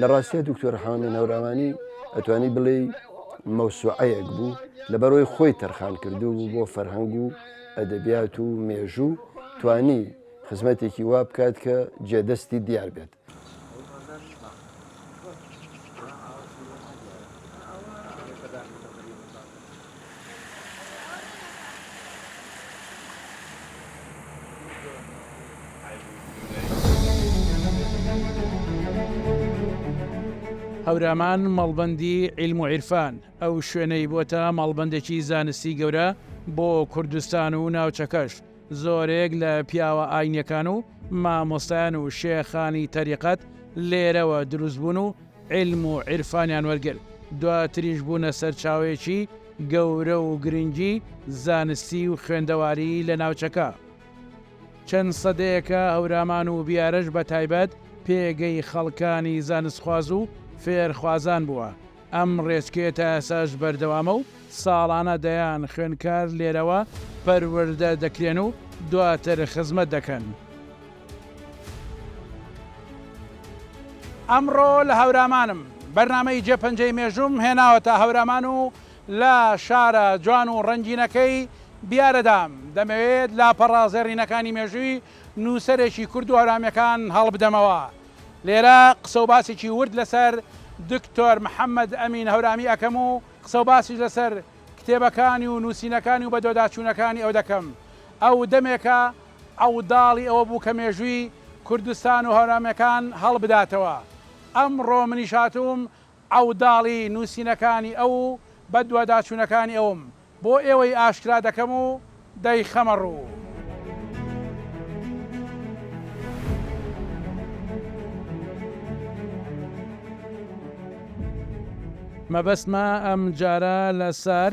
لە ڕاستیا دکتۆر حامی نەوراوانی ئەتوانی بڵێی مەوسوعەیەک بوو لەبەرەوەی خۆی تەرخان کردوو بوو بۆ فەرهەنگ و ئەدەبیات و مێژوو توانی خزمەتێکی وا بکات کە جێدەستی دیار بێت. هەورامان مەڵبەندی عیلم و عیرفان، ئەو شوێنەی بۆتە مەڵبەندێکی زانستی گەورە بۆ کوردستان و ناوچەکەش، زۆرێک لە پیاوە ئاینیەکان و مامۆستایان و شێخانی تەریقەت لێرەوە دروست بوون و عیلم و عیرفانیان وەرگرت، دواتریش بوونە سەرچاوەیەکی گەورە و گرنگی زانستی و خوێندەواری لە ناوچەکە. چەند سەدەیەکە هەورامان و بیارەش بە تایبەت پێگەی خەڵکانی زانستخواز و فێرخوازان بووە، ئەم ڕێچکەیە تا ئێستاش بەردەوامە و ساڵانە دەیان خوێندکار لێرەوە پەروەردە دەکرێن و دواتر خزمەت دەکەن. ئەمڕۆ لە هەورامانم بەرنامەی جێ پەنجەی مێژووم هێناوەتە هەورامان و لە شارە جوان و ڕەنگینەکەی بیارەدام دەمەوێت لاپەڕە زێڕینەکانی مێژووی نووسەرێکی کورد و هەورامیەکان هەڵبدەمەوە لێرە قسە و باسێکی ورد لەسەر دکتۆر محەممەد ئەمین هەورامی ئەەکەم و قسە و باسیش لەسەر کتێبەکانی و نووسینەکانی و بەدۆداچوونەکانی ئەو دەکەم ئەو دەمێکە عەوداڵی ئەوە بوو کە مێژووی کوردستان و هەورامیەکان هەڵبداتەوە. ئەمڕۆ منیش هاتووم عەوداڵی نووسینەکانی ئەو و بەدواداچوونەکانی ئەوم بۆ ئێوەی ئاشکرا دەکەم و دەیخەمە ڕوو. مەبەستمە ئەمجارە لە سار.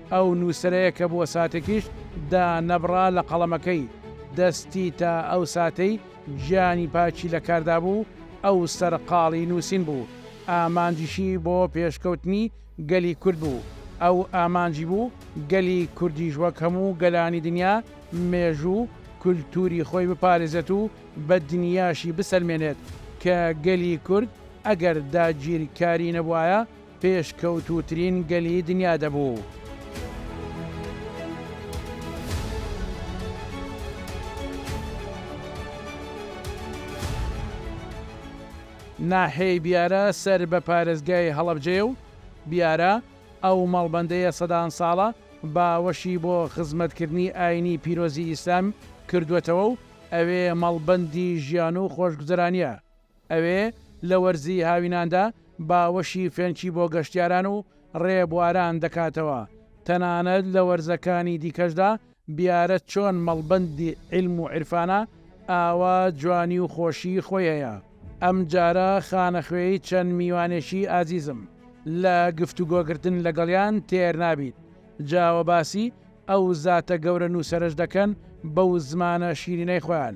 ئەو نووسەرەیە کە بۆ ساتێکیش دا نەبڕا لە قەڵەمەکەی، دەستی تا ئەو ساتەی گیانی پاکی لە کاردا بوو، ئەو سەرقاڵی نووسین بوو، ئامانجیشی بۆ پێشکەوتنی گەلی کورد بوو، ئەو ئامانجی بوو گەلی کوردیش وەک هەموو گەلانی دنیا مێژوو و کولتووری خۆی بپارێزێت و بە دنیاشی بسەلمێنێت کە گەلی کورد ئەگەر داگیرکاری نەبوایە پێشکەوتووترین گەلی دنیا دەبوو. ناحیەی بیارە سەر بە پارێزگای هەڵەبجەیە و بیارە، ئەو مەڵبەندەیە سەدان ساڵە باوەشی بۆ خزمەتکردنی ئایینی پیرۆزی ئیسلام کردووەتەوە و ئەوێ مەڵبەندی ژیان و خۆشگوزەرانییە. ئەوێ لە وەرزی هاویناندا باوەشی فێنکی بۆ گەشتیاران و ڕێبواران دەکاتەوە، تەنانەت لە وەرزەکانی دیکەشدا، بیارە چۆن مەڵبەندی عیلم و عیرفانە، ئاوا جوانی و خۆشیی خۆی هەیە. ئەمجارە خانەخوێی چەند میوانێکی ئازیزم، لە گفتوگۆکردن لەگەڵیان تێر نابیت، جا وە باسی ئەو زاتە گەورە نووسەرەش دەکەن بەو زمانە شیرینەی خۆیان،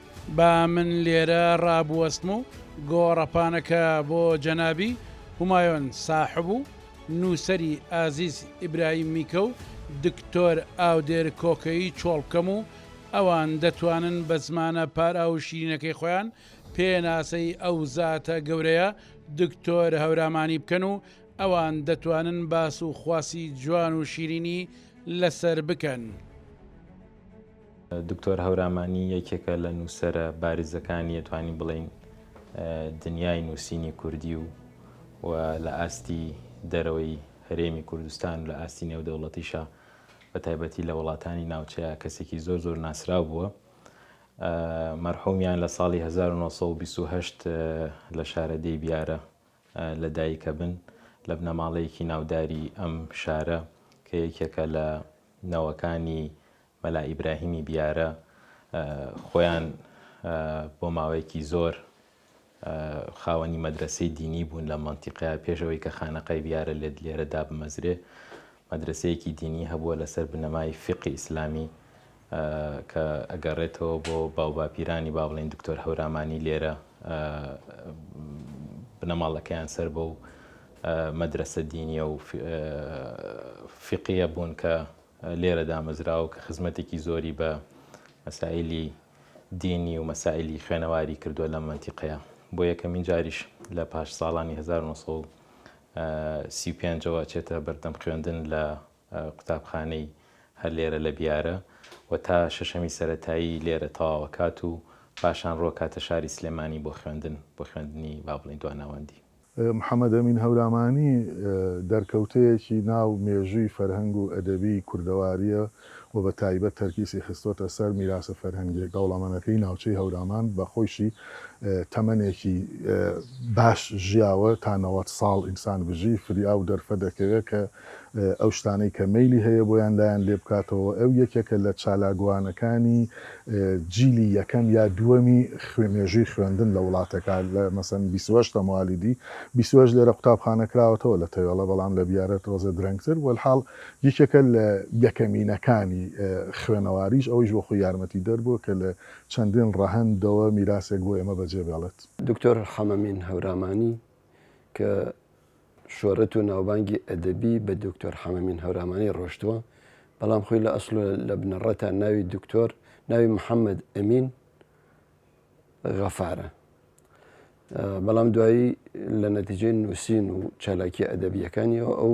با من لێرە ڕابوەستم و گۆڕەپانەکە بۆ جەنابی، همایون ساحب، و نووسەری ئازیز ئیبراهیم میکە و دکتۆر ئاودێر کۆکەیی چۆڵ بکەم و ئەوان دەتوانن بە زمانە پاراو و شیرینەکەی خۆیان پێناسەی ئەو زاتە گەورەیە دکتۆر هەورامانی بکەن و ئەوان دەتوانن باس و خواسی جوان و شیرینی لەسەر بکەن. دکتۆر هەورامانی یەکێکە لە نووسەرە بارزەکانی یەتوانی بڵین دنیای نووسینی کوردی و و لە ئاستی دەرەوەی هەرێمی کوردستان لە ئاستی نێودەوڵەتیشە بە تایبەتی لە وڵاتانی ناوچەیە کەسێکی زۆر زۆر ناسراو بووە مەرحومیان لە ساڵی 1920 لە شارەدەی بیارە لە دایکەبن لە بنەماڵەیەکی ناوداری ئەم شارە کە یەکێکە لە نەوەکانی مەلا ئیبراهیمی بیارە خۆیان بۆ ماوەیەکی زۆر خاوەنی مەدرەسەی دینی بوون لە مەنتیقەیە پێشەوەی کە خانەقای بیارە لێرە دابمەزرێ مەدرەسەیەکی دینی هەبووە لەسەر بنەمای فیقی ئیسلامی کە ئەگەڕێتەوە بۆ باوباپیرانی با بڵێین دکتۆر هەورامانی لێرە بنەماڵەکەیان سەر بەو مەدرسە دینیە و فقیە بوون کە لێرە دامەزراوە کە خزمەتێکی زۆری بە مەسائلی دینی و مەسائلی خوێنەواری کردووە لە منتیقەیە بۆ یەکەمین جاریش لە پاش ساڵانی 1970 سی و پێنج ەوە ئەچێتە بەردەم خوێندن لە قوتابخانەی هەر لێرە لە بیارە و تا شەشەمی سەتایی لێرە تەواوەکات و پاشان ڕۆکاتە شاری سلێمانی بۆ خوێندن بۆ خوێندنی با بڵین دواناوەندی. محەمەد ئەمین هەورامانی دەرکەوتەیەکی ناو مێژووی فەرهەنگ و ئەدەبیی کوردەوارییە و بە تایبەت تەرکیسی خستۆتە سەر میراسە فەرهەنگیە دەوڵەمەنەکەی ناوچەی هەورامان بە خۆیشی تەمەنێکی باش ژیاوە تا نەوەد ساڵ ئینسان بژی فریا و دەرفە دەکەوێت کە ئەو شتانەی کە مەیلی هەیە بۆیان لایان لێ بکاتەوە ئەو یەکێکە لە چالاکوانەکانی جیلی یەکەم یا دووەمی خوێ مێژووی خوێندن لە وڵاتەکە لە مەسەن بیسوەش تەموالیدی بیسوەش لێرە قوتابخانە کراوەتەوە لە تەوێڵە بەڵام لە بیارەت ڕۆزە درەنگتر وەلحاڵ یەکێکە لە یەکەمینەکانی خوێنەواریش، ئەوەیش بۆ خۆی یارمەتیدەر بووە کە لە چەندین ڕەهەندەوە میراسێک بۆ ئێمە بەجێ بێڵێت. دکتۆر حەمەمین هەورامانی کە شۆرەت و ناوبانگی ئەدەبی بە دکتۆر حەمەمین هەورامانی ڕۆشتووە، بەڵام خۆی لە ئەسڵ و لە بنەڕەتا ناوی دکتۆر، ناوی محەمەد ئەمین غەفارە. بەڵام دوایی لە نەتیجەی نووسین و چالاکییە ئەدەبییەکانییەوە ئەو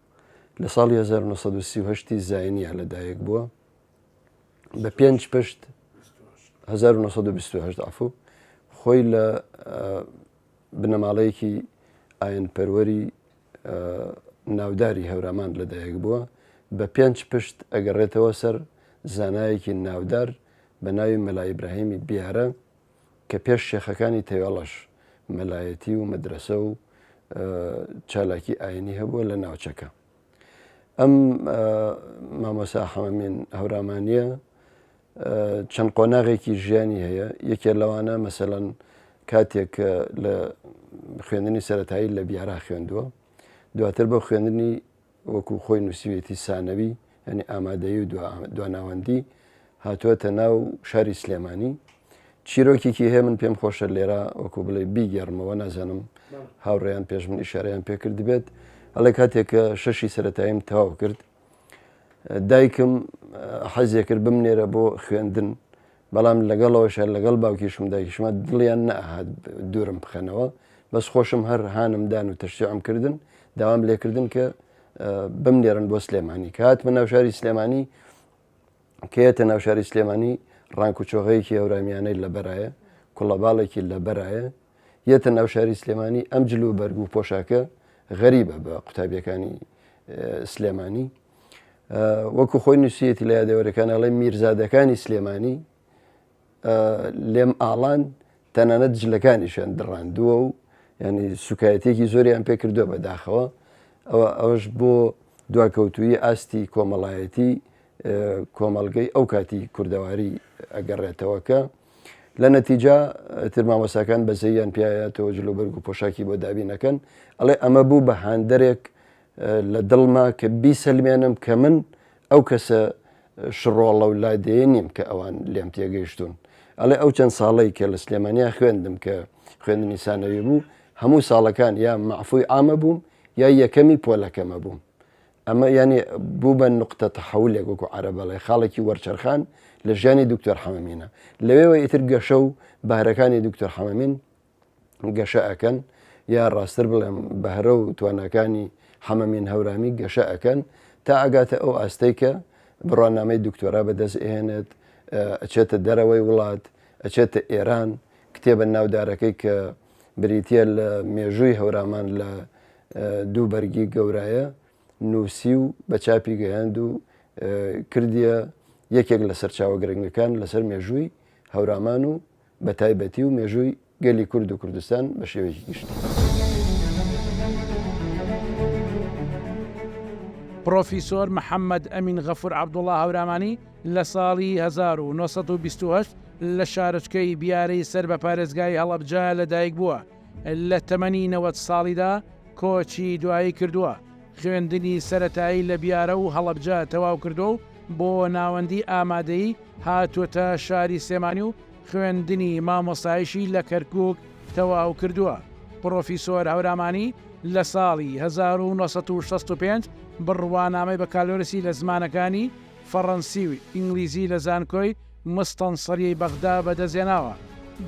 لە ساڵی هەزار و نۆ سەد و سی و هەشت ی زاینیا لە دایک بووە بە پێنج پشت هەزار و نۆ سەد و بیست و هەشت عەفو خۆی لە بنەماڵەیەکی ئاین پەروەری ناوداری هەورامان لە دایک بووە بە پێنج پشت ئەگەڕێتەوە سەر زانایەکی ناودار بە ناوی مەلا ئیبراهیمی بیارە کە پێش شێخەکانی تەوێڵەش مەلایەتی و مەدرەسە و چالاکی ئاینی هەبووە لە ناوچەکە ئەم مامۆسا حەمەمین هەورامانە چەند قۆناغێکی ژیانی هەیە یەکێ لەوانە مەسەەن کاتێک لە خوێندنی سەتایی لە بیارا خوێندووە دواتر بە خوێندنی وەکو خۆی نووسیویەتی سانەوی یانی ئامادەیی و دواناوەندی هاتووەتە ناو شاری سلێمانی چیرۆکێکی هەیە من پێم خۆشە لێرە وەکو بڵێ بیگەڕمەوە نازانم هاوڕێیان پێش من ئیشارەیان پێکرد بێت ئەڵێ کاتێک کە شەشی سەتاییم تەواو کرد دایکم حەزێ کرد بمنێرە بۆ خوێندن بەڵام لەگەڵەوەشا لەگەڵ باوکیشم دایکیشما دڵیان نەئەهات دوورم بخەنەوە بەس خۆشم هەر هانم دان و تەشجیعم کردن داوام لێکردن کە بمنێرن بۆ سلێمانی کە هاتمە ناو شاری سلێمانی کە یەتە ناو شاری سلێمانی ڕانک و چۆغەیەکی هەورامیانەی لەبەرایە کوڵەباڵێکی لەبەرایە یەتە ناو شاری سلێمانی ئەم جل و بەرگ و پۆشاکە غەریبە بە قوتابیەکانی سلێمانی وەکو خۆی نووسیەتی لە یادەوەرەکان ئەڵێ میرزادەکانی سلێمانی لێم ئاڵان تەنانەت جلەکانیشیان دڕاندووە و ینی سوکایەتێکی زۆریان پێکردووە بەداخەوە ئەوە ئەوش بۆ دواکەوتوی ئاستی کۆمەڵایەتی کۆمەلگەی ئەو کاتی کوردەواری ئەگەڕێتەوەکە لە نەتیجا ترمامەساکان بەزەیان پیاە تۆ جلوبەرگ و پۆشاکی بۆ دابینەکەن ئەڵێ ئەمە بوو بە هاندەرێک لە دڵما کە بیسەلمێنم کە من ئەو کەسە شڕۆڵە و لادێیە نیم کە ئەوان لێم تێگەیشتوون. ئەڵێ ئەو چەند ساڵەی کە لە سلێمانیا خوێندم کە خوێندنی سانەوی بوو، هەموو ساڵەکان یا مەعفووی عامە بووم یا یەکەمی پۆلەکەمە بووم. ئەمە یانی بووبە نوقتە تەحەولێک وەکو عەرەب ئەڵێ خاڵێکی وەرچەرخان لە ژیانی دوکتۆر حەمەمینە. لەوێوە ئیتر گەشە و بەهرەکانی دوکتۆر حەمەمین گەشە ئەکەن یا ڕاستتر بڵێم بەهرە و تواناکانی حەمەمین هەورامی گەشە ئەکەن تا ئەگاتە ئەو ئاستەی کە بڕوانامەی دکتۆرا بەدەست ئێنێت ئەچێتە دەرەوەی وڵات ئەچێتە ئێران کتێبە ناودارەکەی کە بریتە لە مێژووی هەورامان لە دوو بەرگی گەورایە نووسی و بە چاپی گەیاند و کردیە یەکێک لە سەرچاوە گرنگەکان لەسەر مێژووی هەورامان و بە تایبەتی و مێژووی گەلی کورد و کوردستان بە شێوەیەکی گشتی. پڕۆفیسۆر محەممەد ئەمین غەفوور عەبدوڵا هەورامانی لە ساڵی هەزار و نۆ سەد و بیست و هەشت لە شارۆچکەی بیارەی سەر بە پارێزگای هەڵەبجە لەدایکبووە، لە تەمەنی نەوەد ساڵیدا کۆچی دوایی کردووە، خوێندنی سەرەتایی لە بیارە و هەڵەبجە تەواو کردووە و بۆ ناوەندی ئامادەیی هاتووەتە شاری سلێمانی و خوێندنی مامۆستایشی لە کەرکووک تەواو کردووە. پڕۆفیسۆر هەورامانی لە ساڵی هەزار و نۆ سەد و شەست و پێنج بڕوانامەی بەکالۆرسی لە زمانەکانی فەڕەنسی و ئینگلیزی لە زانکۆی مستەنسریی بەغدا بەدەستهێناوە،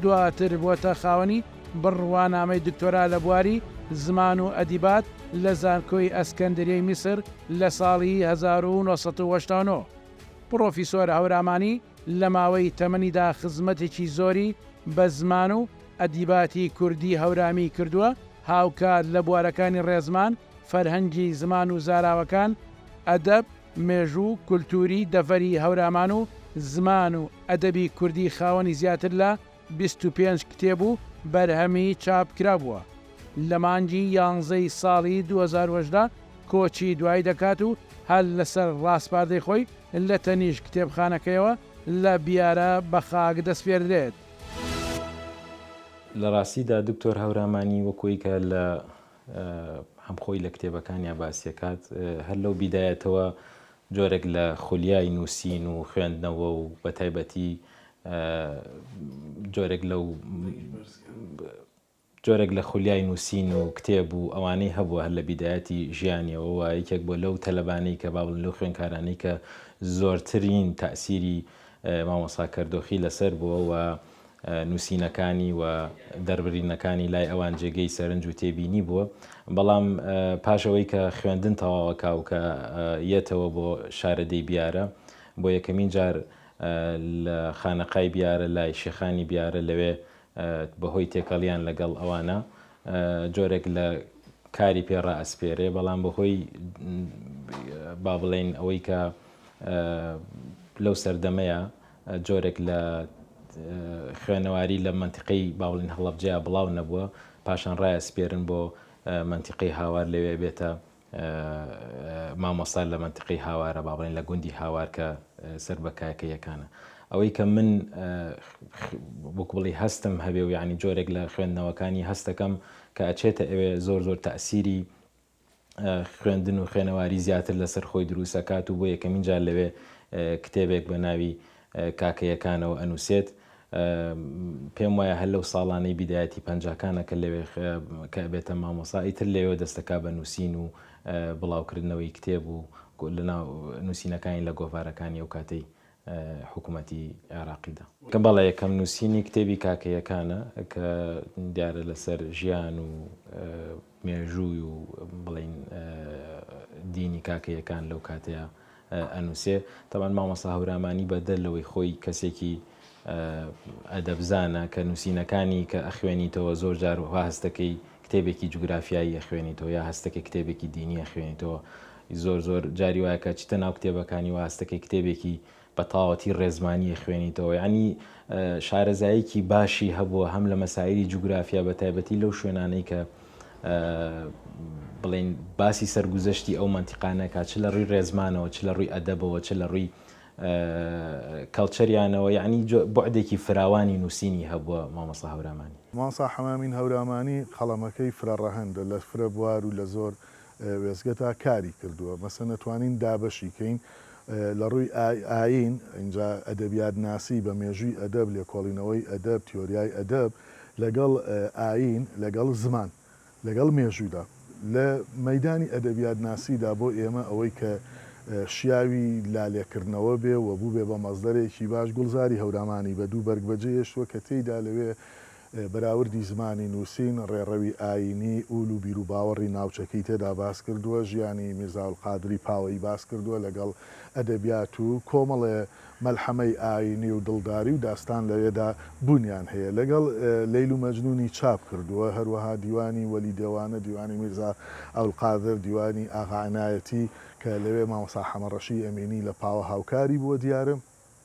دواتر بووەتە خاوەنی بڕوانامەی دکتۆرا لە بواری زمان و ئەدیبات لە زانکۆی ئەسکەندریەی میسر لە ساڵی هەزار و نۆ سەد و هەشتا و نۆ. پڕۆفیسۆر هەورامانی لە ماوەی تەمەنیدا خزمەتێکی زۆری بە زمان و ئەدیباتی کوردی هەورامی کردووە، هاوکات لە بوارەکانی ڕێزمان، فەرهەنگی زمان و زاراوەکان، ئەدەب، مێژوو و کولتووری دەڤەری هەورامان و زمان و ئەدەبی کوردی خاوەنی زیاتر لە بیست و پێنج کتێب و بەرهەمی چاپکرا بووە، لە مانگی یانزەی ساڵی دوو هەزار و هەژدە کۆچی دوایی دەکات و هەر لەسەر ڕاسپاردەی خۆی لە تەنیشت کتێبخانەکەیەوە لە بیارە بە خاک دەسپێردرێت. لە ڕاستیدا دکتۆر هەورامانی وەکووی کە لە هەم خۆی لە کتێبەکانیا باسی ئەکات، هەر لەو بیدایەتەوە جۆرێک لە خولیای نووسین و خوێندنەوە و بە تایبەتی جۆرێک لەو جۆرێک لە خولیای نووسین و کتێب و ئەوانەی هەبووە هەر لە بیدایەتی ژیانیەوە و یەکێک بۆ لەو تەلەبانەی کە باڵن لەو خوێنکارانی کە زۆرترین تاسیری مامۆسا کەردۆخی لەسەر بووە و نووسینەکانی و دەربرینەکانی لای ئەوان جێگەی سەرنج و تێبینی بووە، بەڵام پاش ئەوەی کە خوێندن تەواوەکا و کە یەتەوە بۆ شارەدێی بیارە، بۆ یەکەمین جار لە خانەقای بیارە لای شێخانی بیارە لەوێ بە هۆی تێکەڵیان لە گەڵ ئەوانە جۆرێک لە کاری پێ ڕائەسپێرێ، بەڵام بە هۆی با بڵێین ئەوەی کە لەو سەردەمەیە، جۆرێک لە خوێنەواری لە مەنتیقەی باوڵین هەڵەبجەیا بڵاو نەبووە، پاشان ڕایەسپێرن بۆ مەنتیقەی هاوار لەوێ بێتە مامۆستا لە مەنتیقەی هاوارە با بڵێین لە گوندی هاوار کە سەر بە کاکەییەکانە. ئەوەی کە من وەکوو بڵێی هەستم هەبێ و یانی جۆرێک لە خوێندنەوەکانی هەست دەکەم کە ئەچێتە ئەوێ زۆر زۆر تەئسیری خوێندن و خوێنەواری زیاتر لەسەر خۆی دروست ئەکات و بۆ یەکەمین جار لەوێ کتێبێک بە ناوی کاکەیەکانەوە ئەنووسێت. پێم وایە هەر لەو ساڵانەی بیدایەتی پەنجاکانە کە لەوێ کە ئەبێتە مامۆسا ئیتر لەوێ دەست دەکا بە نووسین و بڵاوکردنەوەی کتێب و لەناو نووسینەکانی لە گۆڤارەکانی ئەو کاتەی حکومەتی عێراقیدا. بەڵێ یەکەم نووسینی کتێبی کاکەییەکانە کە دیارە لەسەر ژیان و مێژووی و بڵێین دینی کاکەییەکان لەو کاتەیا ئەنووسێ تەبەن مامۆستا هەورامانی بەدەر لەوەی خۆی کەسێکی ئەدەبزانە کە نووسینەکانی کە ئەخوێنیتەوە زۆر جار وەها هەستەکەی کتێبێکی جوگرافیایی ئەخوێنیتەوە یا هەستەکەی کتێبێکی دینی ئەخوێنیتەوە زۆر زۆر جاری وایە کە چیتە ناو کتێبەکانی و هەستەکەی کتێبێکی بە تەواوەتی ڕێزمانی ئەخوێنیتەوە یانی شارەزاییکی باشی هەبووە هەم لە مەسایلی جوگرافیا بە تایبەتی لەو شوێنانەی کە بڵین باسی سەرگوزەشتی ئەو منتیقانەکە چ لە ڕووی ڕێزمانەوە چ لە ڕووی ئەدەبەوە چ لە ڕووی کەڵچەریانەوە یعنی بەعدێکی فراوانی نووسینی هەبووە مامەسا هەورامانی مامەسا حەمامین هەورامانی قەڵەمەکەی فرە ڕەهەندە لە فرە بوار و لە زۆر وێستگەتا کاری کردووە مەسەن ئەتوانین دابەشی کەین لە ڕووی ئایین ئینجا ئەدەبیات ناسی بە مێژووی ئەدەب لێکۆڵینەوەی ئەدەب تیۆریای ئەدەب لەگەڵ ئایین لەگەڵ زمان لەگەڵ مێژوودا لە مەیدانی ئەدەبیات ناسیدا بۆ ئێمە ئەوەی کە شیاوی لالێکردنەوە بێ و بووبێ بە مەزدەرێکی باش گوڵزاری هەورامانی بە دوو بەرگ بەجێ هێشتووە کە تێیدا لەوێ بەراوردی زمانی نووسین، ڕێڕەوی ئایینی، ئول و بیروباوەڕی ناوچەکەی تێدا باس کردووە، ژیانی میرزا ئەلقادری پاوەیی باس کردووە لەگەڵ ئەدەبیات و کۆمەڵێ مەلحەمەی ئایینی و دڵداری و داستان لەوێدا بوونیان هەیە لەگەڵ لەیل و مەجنوونی چاپ کردووە، هەروەها دیوانی وەلی دێوانە، دیوانی میرزا ئەلقادر، دیوانی ئاغا عنایەتی کە لەوێ مامۆستا حەمە ڕەشی ئەمینی لە پاوە هاوکاری بووە دیارە.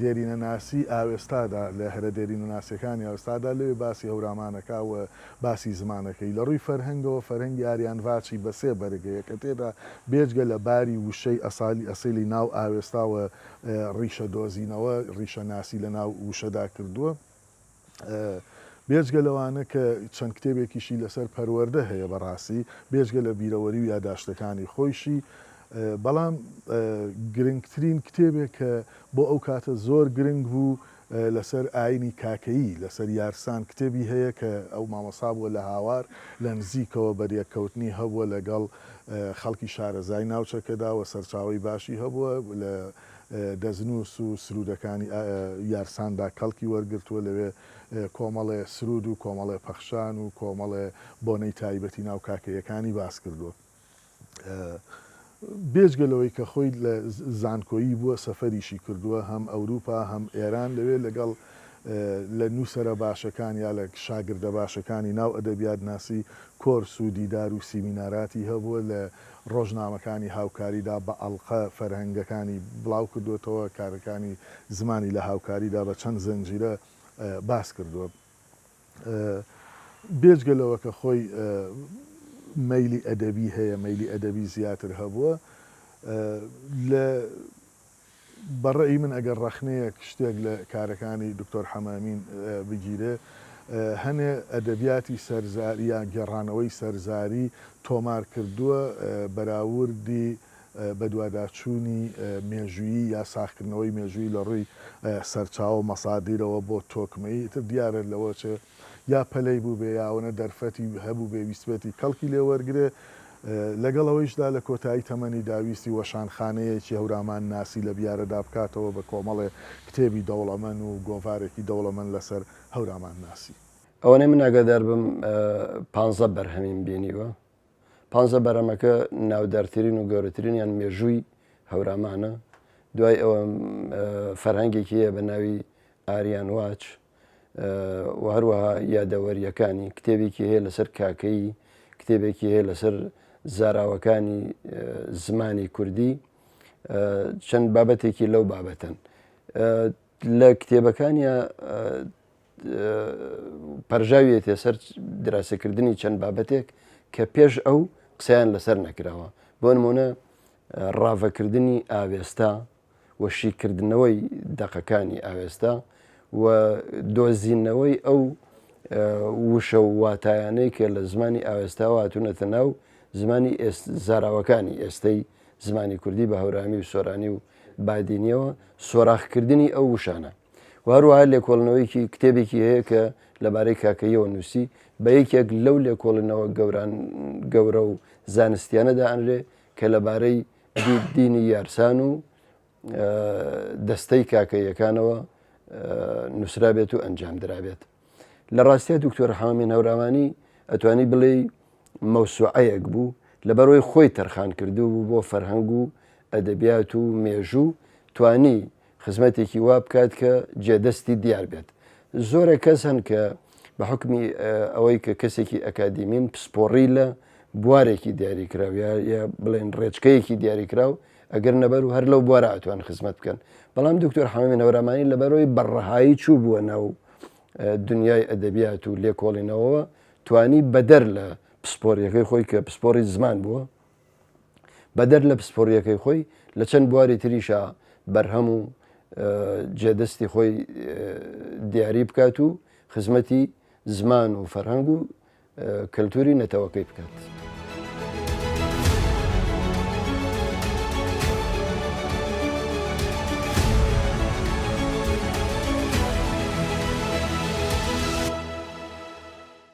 دێرینەناسی ئاوێستادا لە هەرە دێرینەناسیەکانی ئاوێستادا لەوێ باسی هەورامان کا و باسی زمانە کەی لە ڕووی فەرهەنگەوە فەرهەنگی ئاریان ڤاچی بە سێ بەرگ هەیە کە تێدا بێجگە لە باری وشەی ئەسالی ئەسیلی ناو ئاوێستا و ڕیشە دۆزینەوە ڕیشەناسی لە ناو وشەدا کردووە. بێجگە لەوانە کە چەند کتێبێکیشی لەسەر پەروەردە هەیە بەڕاستی بێجگە لە بیرەوەری و یاداشتەکانی خۆیشی بەڵام گرنگترین کتێبێک کە بۆ ئەو کاتە زۆر گرنگ بوو لەسەر ئاینی کاکەیی لەسەر یارسان کتێبی هەیە کە ئەو مامەسا بووە لە هاوار لە نزیکەوە بەریەککەوتنی هەبووە لەگەڵ خەڵکی شارەزای ناوچەکەدا و سەرچاوی باشی هەبووە لە دەستنووس و سروودەکانی یارساندا کەڵکی وەرگرتووە، لەوێ کۆمەڵێ سروود و کۆمەڵێ پەخشان و کۆمەڵێ بۆنەی تایبەتی ناو کاکەییەکانی باس کردووە. بێجگە لەوەی کە خۆی لە زانکۆیی بووە، سەفەریشی کردووە، هەم ئەوروپا، هەم ئێران، لەوێ لەگەڵ لە نووسەرە باشەکان یا لە شاگردە باشەکانی ناو ئەدەبیاتناسی کۆرس و دیدار و سیمیناراتی هەبووە، لە ڕۆژنامەکانی هاوکاریدا بە ئەڵقە فەرهەنگەکانی بڵاوکردووەتەوە، کارەکانی زمانی لە هاوکاریدا بە چەند زنجیرە باس کردووە. بێجگە لەوە کە خۆی مەیلی ئەدەبی هەیە، مەیلی ئەدەبی زیاتر هەبووە لە. بە ڕەئی من ئەگەر ڕەخنەیەک شتێک لە کارەکانی دکتۆر حەمەئەمین بگیرێ هەنێ ئەدەبیاتی سەرزاری یان گێڕانەوەی سەرزاری تۆمار کردووە بەراوردی بەدواداچوونی مێژوویی یا ساغکردنەوەی مێژووی لە ڕووی سەرچاوە و مەسادیرەوە بۆ تۆکمەیی ئیتر دیارە لەوە چێ یا پەلەی بووبێ یا ئەوەنە دەرفەتی هەبووبێ ویستبێتی کەڵکی لێ وەرگرێ، لەگەڵ ئەوەیشدا لە کۆتایی تەمەنیدا ویستی وەشانخانەیەکی هەورامانناسی لە بیارەدا بکاتەوە بە کۆمەڵێ کتێبی دەوڵەمەن و گۆڤارێکی دەوڵەمەن لەسەر هەورامانناسی. ئەوەنەی من ئاگادار بم پانزە بەرهەمیم بینیوە، پانزە بەرهەمەکە ناودارترین و گەورەترینیان مێژووی هەورامانە، دوای ئەوە فەرهەنگێکی هەیە بە ناوی ئاریان واچ، و هەروەها یادەوەرییەکانی، کتێبێکی هەیە لەسەر کاکەیی، کتێبێکی هەیە لەسەر زاراوەکانی زمانی کوردی، چەند بابەتێکی لەو بابەتەن. لە کتێبەکانی پەرژاویەتێ سەر دراستەکردنی چەند بابەتێک کە پێش ئەو قسەیان لەسەر نەکراوە بۆ نمونە ڕاڤەکردنی ئاوێستا و شیکردنەوەی دەقەکانی ئاوێستا و دۆزینەوەی ئەو وشە و واتایانەی کە لە زمانی ئاوێستاوە هاتوونەتە ناو زمانی زاراوەکانی ئێستەی زمانی کوردی بە هەورامی و سۆرانی و بادینیەوە سۆراخکردنی ئەو وشانە وهروها لێکۆڵنەوەیکی کتێبێکی هەیە کە لەبارەی کاکەیەوە نووسی بە یەکێک لەو لێکۆڵنەوە گەوران گەورە و زانستیانەدا ئەنرێ کە لەبارەی دینی یارسان و دەستەی کاکە یەکانەوە نووسرابێت و ئەنجام درابێت لە ڕاستە دکتۆر حامین هەوراوانی ئەتوانی بڵێ مەوسوعەیەک بوو لەبەرەوەی خۆی تەرخان کردو بوو بۆ فەرهەنگ و ئەدەبیات و مێژوو توانی خزمەتێکی وا بکات کە جێدەستی دیار بێت. زۆرە کەس هەن کە بە حوکمی ئەوەی کە کەسێکی ئەکادیمین پسپۆڕی لە بوارێکی دیاریکراو یا یا بڵێن ڕێچکەیەکی دیاریکراو ئەگەر نەبەر و هەر لەو بوارە ئەتوان خزمەت بکەن بەڵام دکتۆر حەمەمی نەورامانی لەبەرەوەی بەڕەهایی چوو بووە ناو دنیای ئەدەبیات و لێکۆڵینەوە توانی بەدەر لە پسپۆریەکەی خۆی کە پسپۆری زمان بووە بەدەر لە پسپۆڕییەکەی خۆی، لە چەند بواری تریشا بەرهەم و جێدەستی خۆی دیاری بکات و خزمەتی زمان و فەرهەنگ و کەلتووری نەتەوەکەی بکات.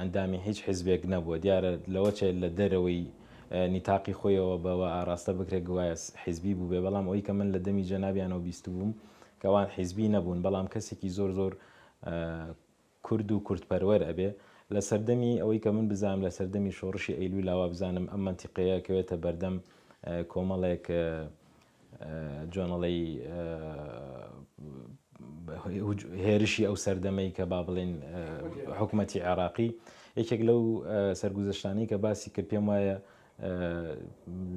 ئەندامی هیچ حیزبێک نەبووە، دیارە لەوەچێ لە دەرەوەی نیتاقی خۆیەوە بەوە ئاڕاستە بکرێ گوایە حیزبی بووبێ، بەڵام ئەوەی کە من لە دەمی جەنابیانەوە بیستبووم کە ئەوان حیزبی نەبوون، بەڵام کەسێکی زۆر زۆر کورد و کوردپەروەر ئەبێ. لە سەردەمی ئەوەی کە من بزانم لە سەردەمی شۆڕشی ئەیلوولا وابزانم ئەم مەنتیقەیە ئەکەوێتە بەردەم کۆمەڵێک جۆنڵەی هێرشی ئەو سەردەمەی کە با بڵێن حکوومەتی عێراقی یەکێک لەو سەرگوزشتانی کە باسی کرد پێم وایە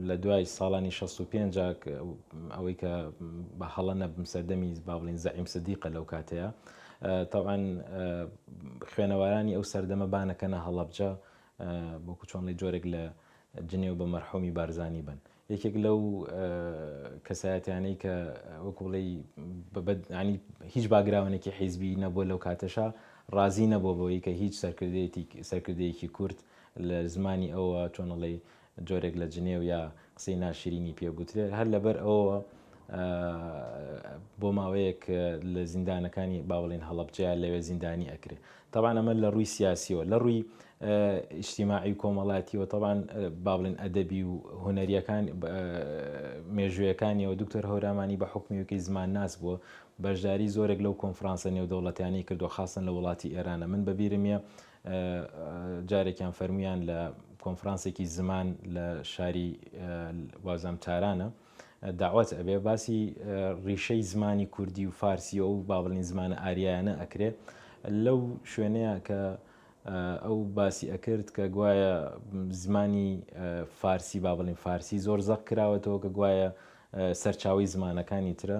لە دوای ساڵانی 65 ئەوەی کە بە هەڵە نەبم سەردەمی بابلین زەعیم سدیقە لەو کاتەیە تاوان خوێنەوارانی ئەو سەردەمە بانەکەنە هەڵەبجە بۆکو چۆنڵی جۆرێک لە جنێو بە مەرحومی بارزانانی بن یەکێک لەو کەسایەتیانەی کە وەکو بڵێی بەبەدنی هیچ باگراونێکی حیزبی نەبووە لەو کاتەشا ڕازی نەبوو بەوەی کە هیچ سەرکردێتی سەرکردەیەکی کورد لە زمانی ئەوە چۆنڵی جۆرێک لە جنێ و یا قسەی ناشرینی پێ بوترێت هەر لەبەر ئەوە بۆ ماوەیەک لە زیندانەکانی باوەڵین هەڵبجەیە لەوێ زیندانی ئەکرێ تەبعەن ئەمە لە ڕووی سیاسییەوە، لە ڕووی ئیجتیماعی و کۆمەڵاتییەوە تەبعەن با بڵێین ئەدەبی و هونەرییەکان مێژوویەکانییەوە دوکتۆر هەورامانی بە حوکمیوکەی زمانناس بووە بەشداری زۆرێک لەو کۆنفرانسە نێودەوڵەتیانەی کردووە خاستەن لە وڵاتی ئێرانە من بە بیرم یە جارێکیان فەرموویان لە کۆنفرانسێکی زمان لە شاری وازام تارانە دەعوەت ئەبێ باسی ڕیشەی زمانی کوردی و فارسی و ئەو بابلین زمانە ئاریایانە ئەکرێ لەو شوێنەیە کە ئەو باسی ئەکرد کە گوایە زمانی فارسی بابلین فارسی زۆر زەق کراوەتەوە کە گوایە سەرچاوی زمانەکانی ترە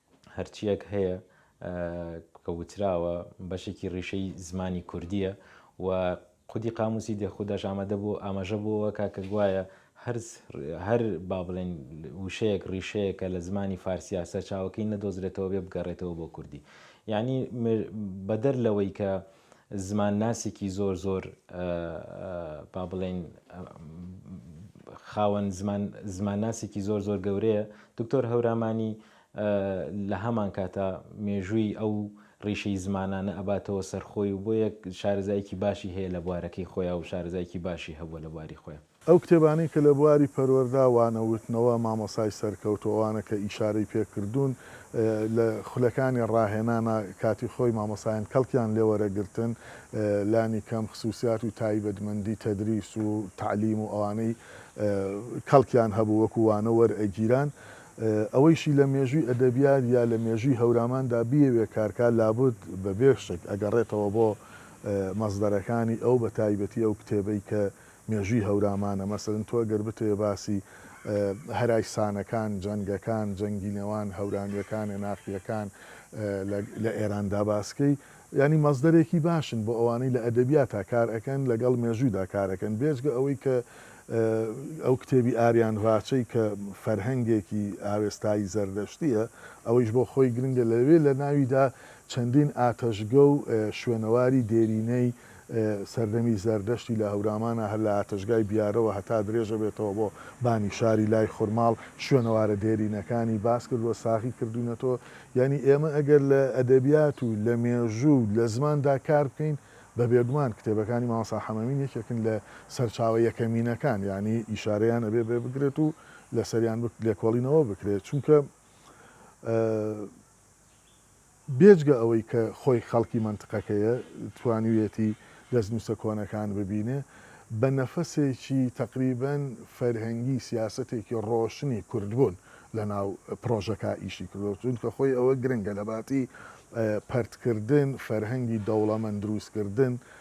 هەرچییەک هەیە کە وتراوە بەشێکی ڕیشەی زمانی کوردییە و خودی قاموسی دێخوداش ئامادە بۆ ئاماژە بۆەوە کا کە گوایە هەر با بڵێن وشەیەک ڕیشەیەکە لە زمانی فارسیا سەرچاوەکەی نەدۆزرێتەوە بێ بگەڕێتەوە بۆ کوردی یعنی بەدەر لەوەی کە زمان ناسێکی زۆر زۆر با بڵێین خاوەن زمان ناسێکی زۆر زۆر گەورەیە دکتۆر هەورامانی لە هەمان کاتە مێژووی ئەو ڕیشەی زمانانە ئەباتەوە سەرخۆی و بۆ یەک شارزایکی باشی هەیە لە بوارەکەی خۆیان و شارزایکی باشی هەبووە لە بواری خۆیان ئەو کتێبانەی کە لە بواری پەروەردە، وانە وتنەوە، مامۆستای سەرکەوتوو، ئەوانە کە ئیشارەی پێ کردوون لە خولەکانی ڕاهێنانا کاتی خۆی مامۆستایان کەڵکیان لێ وەرەگرتن لانی کەم خسووسیات و تایبەتمەندی تەدریس و تەعلیم و ئەوانەی کەڵکیان هەبوو وەکوو وانە وەرئەگیران ئەوەیشی لە مێژووی ئەدەبیات یا لە مێژووی هەوراماندا بیەوێ کارکا لابد بە بێ شک ئەگەڕێتەوە بۆ مەسدەرەکانی ئەو بە تایبەتی ئەو کتێبەی کە مێژووی هەورامانە مەسەلەن تۆ گەر بتەوێ باسی هەرای سانەکان جەنگەکان جەنگی نێوان هەورامیەکان ێناقیەکان لە ئێراندا باسکەی یانی مەزدەرێکی باشن بۆ ئەوانەی لە ئەدەبیاتا کار ئەکەن لەگەڵ مێژوویدا کارەکەن بێجگە ئەوەی کە ئەو کتێبی ئاریان ڕاچەی کە فەرهەنگێکی ئاوێستایی زەردەشتیە ئەوەیش بۆ خۆی گرنگە لەوێ لە ناویدا چەندین ئاتەشگە و شوێنەواری دێرینەی سەردەمی زەردەشتی لە هەورامانە هەر لە ئاتەشگای بیارەوە هەتا درێژەبێتەوە بۆ بانی شاری لای خورماڵ شوێنەوارە دێرینەکانی باسکردوە ساغی کردوینەتەوە یانی ئێمە ئەگەر لە ئەدەبیات و لە مێژو و لە زماندا کار بکەین بە بێگومان کتێبەکانی مامۆستا حەمەمین یەکێکن لە سەرچاوە یەکەمینەکان یانی ئیشارەیان ئەبێ بێ بکرێت و لەسەریان لێکۆڵینەوە بکرێت چونکە بێجگە ئەوەی کە خۆی خەڵکی مەنتقەکەیە، توانیویەتی دەستنووسە کۆنەکان ببینێ، بە نەفەسێکی تەقریبەن فەرهەنگی سیاسەتێکی ڕۆشنی کوردبوون لەناو پڕۆژەکە ئیشی کردووە، چونکە خۆی ئەوە گرنگە لەباتی پەرتکردن، فەرهەنگی دەوڵەمەند درووستکردن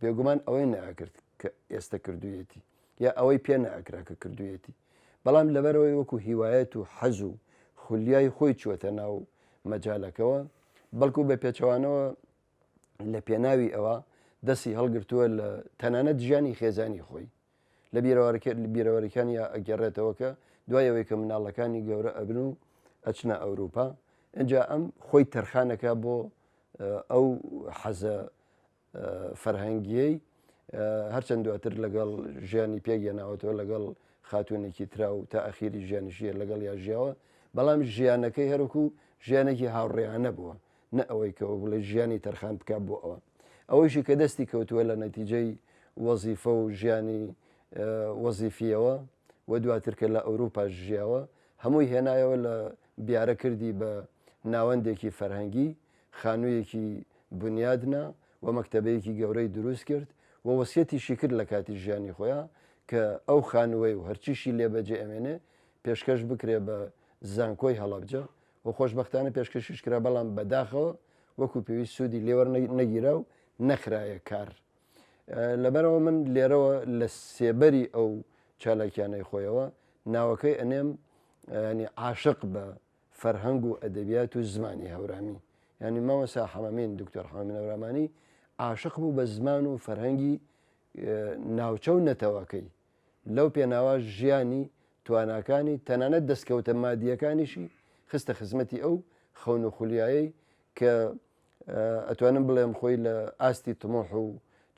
بێگومان ئەوەی نەئەکرد کە ئێستە کردوویەتی یا ئەوەی پێ نەئەکرا کە کردوویەتی بەڵام لەبەرەوەی وەکو هیوایەت و حەز و خولیای خۆی چووەتە ناو مەجالەکەوە بەڵکو بە پێچەوانەوە لە پێناوی ئەوە دەستی هەڵگرتووە لە تەنانەت ژیانی خێزانی خۆی لە بیرەوارکرد لە بیرەوەریکانی ئەگەڕێتەوە کە دوایەوەی کە مناڵەکانی گەورە ئەبن و ئەچنە ئەوروپا ئەجا ئەم خۆی تەرخانەکە بۆ ئەو حەزە فەرهەنگیەی هەرچەند دواتر لەگەڵ ژیانی پێک یەناوەتەوە لەگەڵ خاتونێکی ترا و تا ئەخیری ژیانشیە لەگەڵ یا ژیاوە بەڵام ژیانەکەی هەرکو ژیانێکی هاوڕێیانە بووە نە ئەوەی کەەوە بڵێ ژیانی تەرخان بک بۆ ئەوە ئەوەیشی کە دەستی کەوتووە لە نەتیجەی وەزیفە و ژیانی وەزیفیەوە و دواتر کە لە ئەوروپا ژیاوە هەمووی هێنایەوە لە بیارە کردی بە ناوەندێکی فەرهەنگی خانوویەکی بنیاد نا و مەکتەبەیەکی گەورەی دروست کرد و وەسیەتیشی کرد لە کاتی ژیانی خۆیا کە ئەو خانووەی و هەرچیشی لێ بەجێ ئەمێنێ پێشکەش بکرێ بە زانکۆی هەڵەبجە و خۆشبەختانە پێشکەشیش کرا بەڵام بەداخەوە وەکو پێویست سوودی لێ وەرنەگیرا و نەخرایە کار. لەبەرئەوە من لێرەوە لە سێبەری ئەو چالاکیانەی خۆیەوە ناوەکەی ئەنێم عاشق بە فەرهەنگ و ئەدەبیات و زمانی هەورامی یانی مامۆستا حەمەمین دکتۆر حەمەمین هەورامانی عاشق بوو بە زمان و فەرهەنگی ناوچە و نەتەوەکەی لەو پێناوە ژیانی تواناکانی تەنانەت دەستکەوتە مادیەکانیشی خستە خزمەتی ئەو خەون و خولیایەی کە ئەتوانم بڵێم خۆی لە ئاستی تمۆح و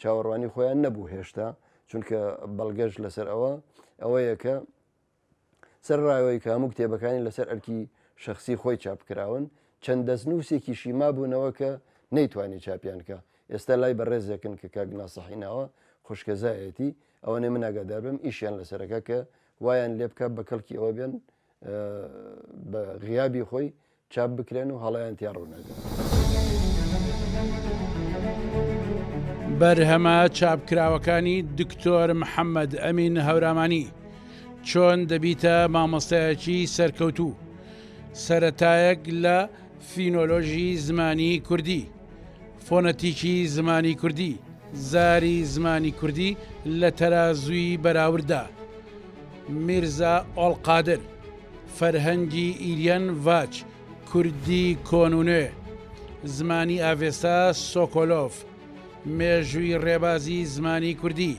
چاوەڕوانی خۆیان نەبوو هێشتا چونکە بەڵگەش لەسەر ئەوە ئەوەیە کە سەرەڕایەوەی کە هەموو کتێبەکانی لەسەر ئەرکی شەخسی خۆی چاپ کراون، چەند دەستنووسێکیشی مابوونەوە کە نەیتوانی چاپیان کا، ئێستا لای بەڕێزێکن کە کاک ناسحی ناوە، خوشکەزایەتی، ئەوەنەی من ئاگادار بم ئیشیان لەسەرەکا کە وایان لێبکا بە کەڵکی ئەوە بێن بە غیابی خۆی چاپ بکرێن و هەڵەیان تیا ڕوو نەبێت. بەرهەمە چاپکراوەکانی دکتۆر محەممەد ئەمین هەورامانی چۆن دەبیتە مامۆستایەکی سەرکەوتوو سەتایەک لە فینۆلۆژی زمانی کوردی فۆنەتیکی زمانی کوردی، زاری زمانی کوردی لە تەرازووی بەراورددا، میرزا ئۆڵقادر، فەرهەنگی ئیریەن ڤاچ، کوردی کۆن و نوێ، زمانی ئاڤێستا سۆکۆلۆڤ، مێژووی ڕێبازی زمانی کوردی،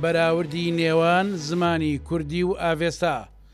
بەراوردی نێوان زمانی کوردی و ئاڤێستا،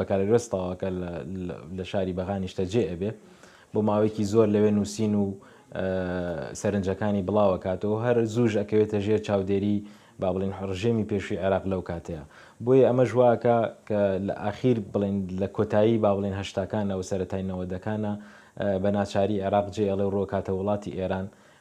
بەکالۆریۆس تەواوکە لە شاری بەغا نیشتەجێ ئەبێ بۆ ماوەیەکی زۆر لەوێ نووسین و سەرنجەکانی بڵاوەکاتەوە هەر زووش ئەکەوێتە ژێر چاودێری با بڵین ڕژێمی پێشوی عێراق لەو کاتەیە بۆیە ئەمە ژواکە کە لە ئاخیر بڵین لە کۆتایی با بڵین هەشتاکانەوە سەرەتاینەوە دەکانە بە ناچاری عێراق جێ ئەڵێ ڕۆکاتە وڵاتی ئێران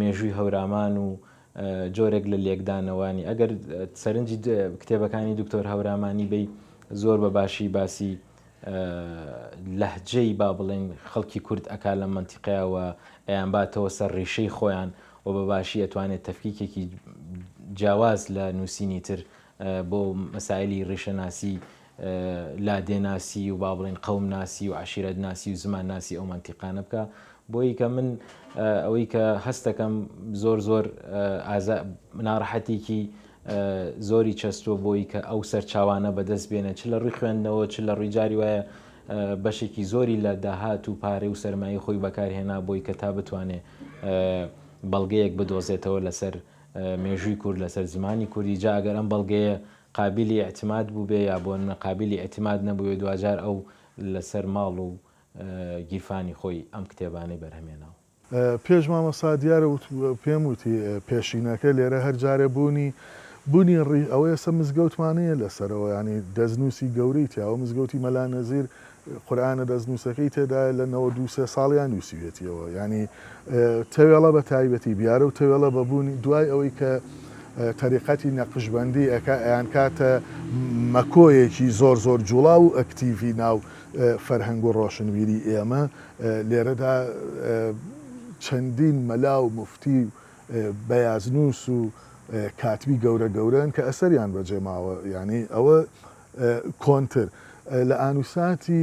مێژووی هەورامان و جۆرێک لە لێکدانەوانی، ئەگەر سەرنجی کتێبەکانی دکتۆر هەورامانی بەی زۆر بە باشی باسی لەهجەی با بڵێین خەڵکی کورد ئەکا لەم مەنتیقەیا و ئەیانباتەوە سەر ڕیشەی خۆیان و بە باشی ئەتوانێت تەفکیکێکی جیاواز لە نووسینی تر بۆ مەسایلی ڕیشەناسی لادێ ناسی و با بڵێین قەوم ناسی و عەشیرەت ناسی و زمان ناسی ئەو مەنتیقانە بکە بۆیی کە من ئەوەی کە هەستەکەم زۆر زۆر ئازا ناڕەحەتێکی زۆری چەستوە بۆی کە ئەو سەرچاوانە بەدەست بێنە چ لە ڕووی خوێندنەوە چ لە ڕووی جاری وایە بەشێکی زۆری لە داهات و پارێ و سەرمایە خۆی بەکارهێنا بۆی کە تا بتوانێ بەڵگەیەک بدۆزێتەوە لەسەر مێژووی کورد لەسەر زمانی کوردی جاگەر ئەم بەڵگەیە قابیلی ئیعتماد بووبێ یا بۆ نمونە قابیلی ئیعتماد نەبووێ دواجار ئەو لەسەر ماڵ و گیرفانی خۆی ئەم کتێبانەی بەرهەمێناوە. پێش مامۆستا دیار وت پێم وتی پێشینەکە لێرە هەر جارێ بوونی بوونی ڕی ئەوە ئێستا مزگەوتمان هەیە لەسەرەوە یانی دەستنووسی گەورەی تیاوە مزگەوتی مەلا نەزیر قورئانە دەستنووسەکەی تێدایە لە نەوەد و سێ ساڵیان نووسیویەتیەوە یانی تەوێڵە بە تایبەتی بیارە و تەوێڵە بە بوونی دوای ئەوەی کە تەریقەتی نەقشبندی ئەکا ئەیان کاتە مەکۆیەکی زۆر زۆر جوڵاو و ئەکتیڤی ناو فەرهەنگ و ڕۆشنبیری ئێمە لێرەدا چەندین مەلا و موفتی و بەیازنووس و کاتبی گەورە گەورەن کە ئەسەریان بەجێماوە یانی ئەوە کۆنتر لە ئانوساتی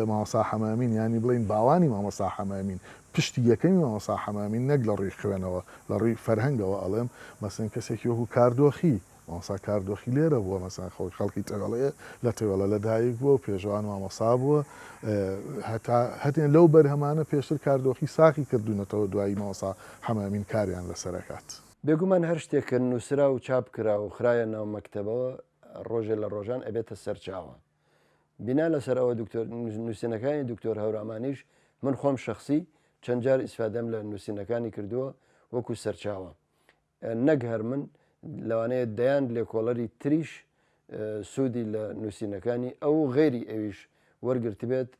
مامۆستا حەمامین یانی بڵێین باوانی مامۆستا حەمامین پشتی یەکەمی مامۆستا حەمامین نەک لە ڕووی خوێنەوە لە ڕووی فەرهەنگەوە ئەڵێم مەسەن کەسێکی وەکو کاردۆخی مامۆستا کاردۆخی لێرە بووە مەسەن خەڵک خەڵکی تەوێڵەیە لە تەوێڵە لەدایک بووە و پێشەوا مامۆستا بووە هەتا هەتێن لەو بەرهەمانە پێشتر کاردۆخی ساخی کردوونەتەوە دوایی مامۆستا حەمامین کاریان لەسەر ئەکات. بێگومان هەر شتێک کە نووسرا و چاپ کرا و خرایە ناو مەکتەبەوە ڕۆژێ لە ڕۆژان ئەبێتە سەرچاوە. بینا لەسەر ئەوە دکتۆر نوسینەکانی دکتۆر هەورامانیش من خۆم شەخسی چەند جار ئیسفادەم لە نوسینەکانی کردووە وەکو سەرچاوە. نەک هەر من لەوانەیە دەیان لێکۆڵەری تریش سودی لە نوسینەکانی ئەو و غەیری ئەویش وەرگرتبێت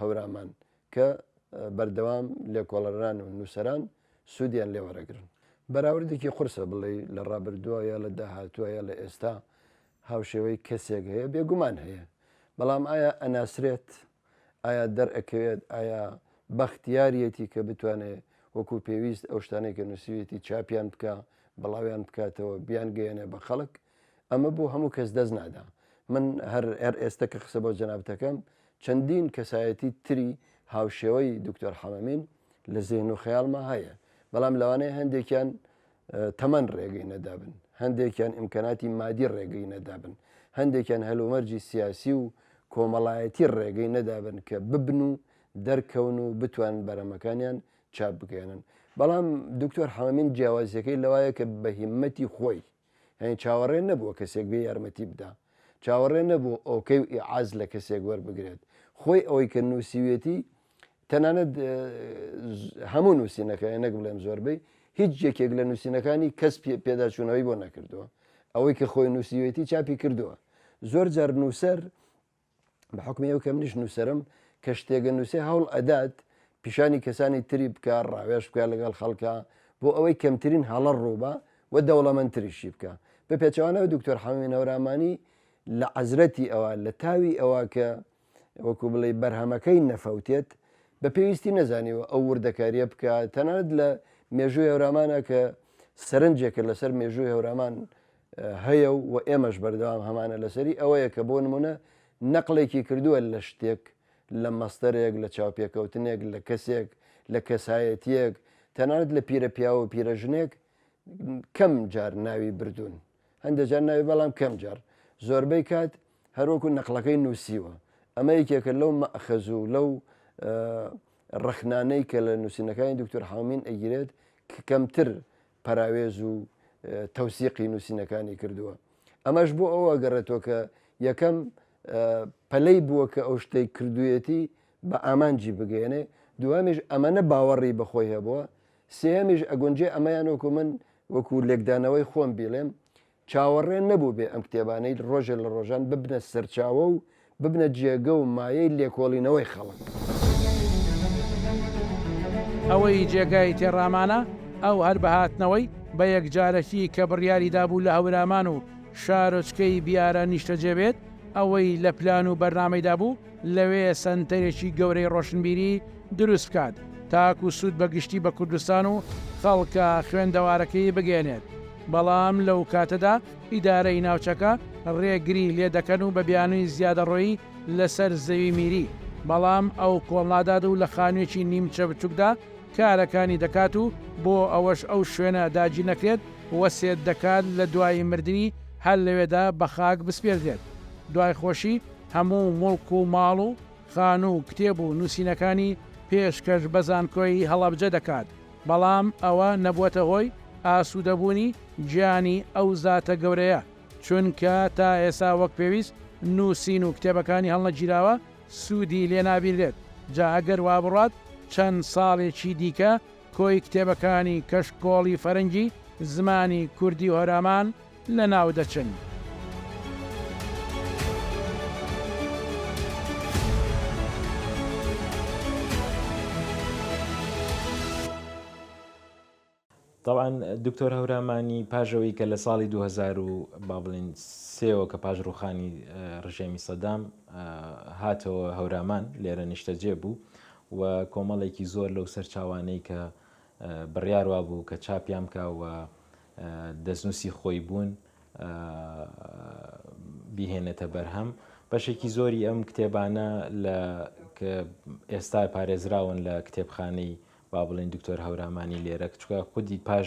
هەورامان کە بەردەوام لێکۆڵەران و نووسەران سوودیان لێ وەرەگرن. بەراوردێکی قورسە بڵێی لە ڕابردووە یا لە داهاتووە یا لە ئێستا هاوشێوەی کەسێک هەیە، بێگومان هەیە، بەڵام ئایا ئەناسرێت؟ ئایا دەرئەکەوێت؟ ئایا بەختیاریەتی کە بتوانێ وەکوو پێویست ئەو شتانەی کە نووسیویەتی چاپیان بکا، بڵاویان بکاتەوە، بیانگەیەنێ بە خەڵک؟ ئەمە بۆ هەموو کەس دەست نادا. من هەر هەر ئێستە کە قسە بۆ جەنابت ئەکەم چەندین کەسایەتی تری هاوشێوەی دکتۆر حەمەمین لە زێهن و خەیاڵما هەیە بەڵام لەوانەیە هەندێکیان تەمەن ڕێگەی نەدابن، هەندێکیان ئیمکاناتی مادی ڕێگەی نەدابن، هەندێکیان هەلومەرجی سیاسی و کۆمەڵایەتی ڕێگەی نەدابن کە ببن و دەرکەون و بتوانن بەرهەمەکانیان چاپ بکەێنن. بەڵام دکتۆر حەمەمین جیاوازیەکەی لەوایە کە بە هیمەتی خۆی، یانی چاوەڕێ نەبووە کەسێک بێ یارمەتی بدا چاوەڕێ نەبوو ئۆکەی و ئیعاز لە کەسێک وەربگرێت خۆی ئەوەی کە نووسیوێتی تەنانەت هەموو نووسینەکەی نەک بڵێم زۆربەی هیچ یەکێک لە نووسینەکانی کەس پێداچوونەوەی بۆ نەکردووە ئەوەی کە خۆی نووسیوێتی چاپی کردووە زۆر جار نووسەر بە حوکمی ئەو کە منیش نووسرم کە شتێگە نووسێ هەوڵ ئەدات پیشانی کەسانی تری بکە ڕاوێش بکە لەگەڵ خەڵکە بۆ ئەوەی کەمترین هەڵە ڕووبە و دەوڵەمەندتریشی بکە بە پێچوانەوە دکتۆر حەمەی نەورامانی لە عەزرەتی ئەوە لە تاوی ئەوە کە وەکو بڵێ بەرهەمەکەی نەفەوتێت بە پێویستی نەزانیوە ئەو وردەکاریە بکە تەنانەت لە مێژووی هەورامانە کە سەرنجێکە لەسەر مێژووی هەورامان هەیە و ئێمەش بەردەوام هەمانە لەسەری ئەوەیە کە بۆ نموونە نەقڵێکی کردووە لە شتێک لە مەسدەرێک لە چاوپێکەوتنێک لە کەسێک لە کەسایەتییەک تەنانەت لە پیرە پیاو و پیرە ژنێک کەم جار ناوی بردوون هەندێک جار ناوی بەڵام کەم جار زۆربەی کات هەروەکو نەقلەکەی نووسیوە ئەمە یەکێکە لەو مەخەز و لەو ڕخنانەی کە لە نووسینەکانی دکتۆر حامین ئەگیرێت کە کەمتر پەراوێز و تەوسیقی نووسینەکانی کردووە ئەمەش بۆ ئەوە گەڕێتەوە کە یەکەم پەلەی بووە کە ئەو شتەی کردویەتی بە ئامانجی بگەێنێ دوهمیش ئەمەە باوەڕی بەخۆی هەبووە سێهمیش ئەگونجێ ئەمەیان وەکو من وەکو لێکدانەوەی خۆم بیڵێم چاوەڕێ نەبووبێ ئەم کتێبانەی ڕۆژێ لە ڕۆژان ببنە سەرچاوە و ببنە جێگە و مایەی لێکۆڵینەوەی خەڵک. ئەوەی جێگای تێڕامانە ئەو هەر بە هاتنەوەی بە یەکجارەکی کە بڕیاری دابوو لە هەورامان و شارۆچکەی بیارە نیشتەجێ بێت، ئەوەی لە پلان و بەرنامەیدا بوو، لەوێ سەنتەرێکی گەورەی ڕۆشنبیری دروست بکات تاکو سوود بە گشتی بە کوردستان و خەڵکە خوێندەوارەکەی بگەیەنێت، بەڵام لەو کاتەدا ئیدارەی ناوچەکە ڕێگری لێ دەکەن و بە بیانووی زیادەڕۆیی لەسەر زەوی میری بەڵام ئەو کۆڵنادات و لە خانوویەکی نیمچە بچووکدا کارەکانی دەکات و بۆ ئەوەش ئەو شوێنە داگیر نەکرێت وەسێت دەکات لە دوای مردنی هەر لەوێدا بە خاک بسپێردرێت دوای خۆشی هەموو موڵک و ماڵ و خانوو و کتێب و نووسینەکانی پێشکەش بە زانکۆی هەڵەبجە دەکات، بەڵام ئەوە نەبووەتە هۆی ئاسوودەبوونی گیانی ئەو زاتە گەورەیە، چونکە تا ئێستا وەک پێویست نووسین و کتێبەکانی هەڵنەگیراوە، سوودی لێ نابینرێت، جا ئەگەر وا بڕوات چەند ساڵێکی دیکە کۆی کتێبەکانی کەشکۆڵی فەرەنگی، زمانی کوردی و هۆرامان لەناودەچن. تەبعەن دکتۆر هەورامانی پاش ئەوەی کە لە ساڵی دوو هەزار و با بڵێین سێوە کە پاش ڕووخانی ڕژێمی سەدام هاتەوە هەورامان لێرە نیشتەجێ بوو و کۆمەڵێکی زۆر لەو سەرچاوانەی کە بڕیار وابوو کە چاپیان بکە و دەستنووسی خۆی بوون بیهێنێتە بەرهەم بەشێکی زۆری ئەم کتێبانە لە ئێستا پارێزراون لە کتێبخانەی با بڵین دکتۆر هەورامانی لێرە کچکە خودی پاش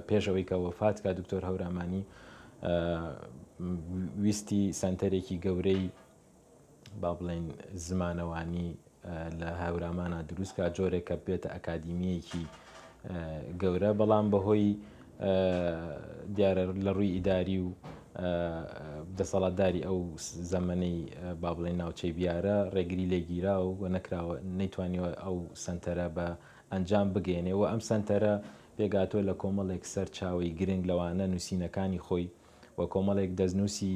پێشەوەی کە وەفات کا دکتۆر هەورامانی ویستی سنتەرێکی گەورەی با بڵێین زمانەوانی لە هاورامانا دروستکە جۆرێکە بێتە ئەکادیمیەکی گەورە بەڵام بەهۆی دیارە لە ڕووی ئیداری و دەسەڵاتداری ئەو زەمەەی با بڵێن ناوچەی بیارە ڕێگری لێگیرا و و نەکراوە نەیتوانیوە ئەو سنتەرە بە ئەنجام بگەێنێ و ئەم سنتەرە پێگاتۆ لە کۆمەڵێک سەر چاوی گرنگ لەوانە نووسینەکانی خۆی و کۆمەڵێک دەستنووسی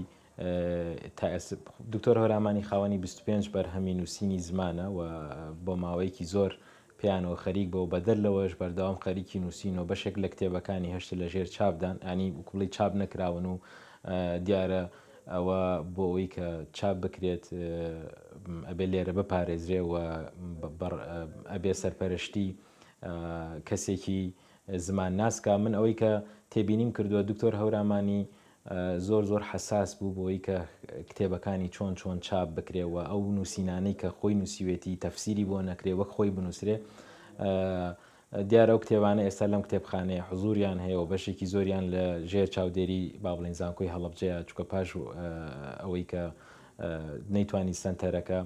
تاسب دکتۆر هۆرامانی خاوەنی بیست و پێنج بەرهەمی نووسینی زمانە و بۆ ماوەیەکی زۆر پێیانەوە خەریک بەوە بەدەر لەوەش بەردەوام خەریکی نووسین و بەشێک لە کتێبەکانی هەشت لە ژێر چاپدان ئەنی وکوڵی چاپ نەکراون و دیارە ئەوە بۆ ئەوی کە چاپ بکرێت ئەبێ لێرە بپارێزرێ و ئەبێ سەرپەرشتی کەسێکی زمان ناسکە من ئەوەی کە تێبینیم کردووە دکتۆر هەورامانی زۆر زۆر حەساس بوو بۆی کە کتێبەکانی چۆن چۆن چاپ بکرێ و ئەو نووسینانەی کە خۆی نووسیوێتی تەفسیری بۆ نەکرێ وەک خۆی بنووسرێ دیارە ئەو کتێبانە ئێستا لەم کتێبخانەیە حزوریان هەیە و بەشێکی زۆریان لە ژێر چاودێری بابلین زانکۆی هەڵبجەیە چکە پاش ئەوەی کە نەیتوانی سنتەرەکە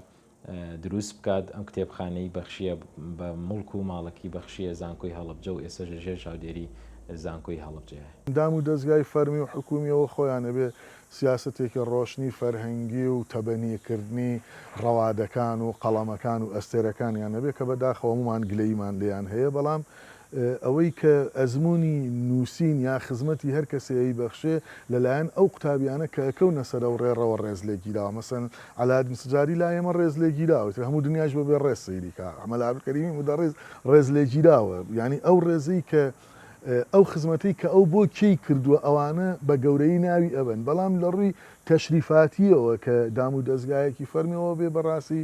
دروست بکات، ئەم کتێبخانەی بەخشییە بە موڵک و ماڵەکەی بەخشییە زانکۆی هەڵەبجە و ئێستەش لە ژێر چاودێری زانکۆی هەڵەبجەیە. دام و دەزگای فەرمی و حکوومییەوە خۆیان ئەبێ سیاسەتێکی ڕۆشنی فەرهەنگی و تەبەنیکردنی ڕەوادەکان و قەڵەمەکان و ئەستێرەکانیان ئەبێ کە بەداخەوە هەموومان گلەییمان لێیان هەیە بەڵام ئەوەی کە ئەزموونی نووسین یا خزمەتی هەر کەسێ ئەیبەخشێ، لە لایەن ئەو قوتابیانە کە ئەکەونە سەر ئەو ڕێڕەوە ڕێز لێ گیراوە. مەسەلەن عەلاەد مسجاری لا ئێمە ڕێز لێ گیراوە، ئیتر هەموو دنیایش بە بێ ڕێز سەیری کا. مەلا عەبدولکەریمی مودەڕیس ڕێز لێ گیراوە. یانی ئەو ڕێزەی کە ئەو خزمەتەی کە ئەو بۆ کێی کردووە ئەوانە بە گەورەیی ناوی ئەبەن. بەڵام لە ڕووی تەشریفاتییەوە کە دامودەزگایەکی فەرمییەوە بێ بە ڕاستی